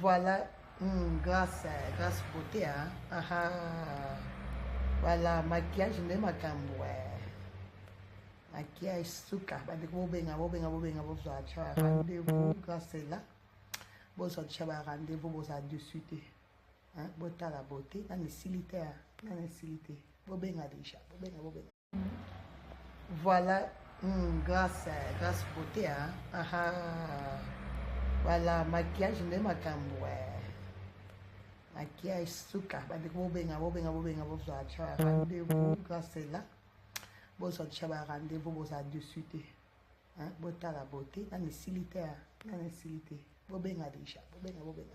Voilà, mm, grâce, grâce beauté, hein. Ah, ah. Voilà, maquillage nde makambo eh. maquillage suka bandeko bobenga bobenga bobenga bozwa tya ba rendez-vous grâce ela bozwa tya ba rendez-vous bozala dessus te botala bote nani esili te nani esili te bobenga deja bobenga bobenga Voilà, mm, grâce, grâce beauté, hein. Ah, ah. Voilà, maquillage nde makambo eh. maquillage suka bandeko bobenga bobenga bobenga bozwa tya ba rendez-vous grâce ela bozwa tya ba rendez-vous bozala dessus te botala beauté nani esili te nani esili te bobenga déjà bobenga bobenga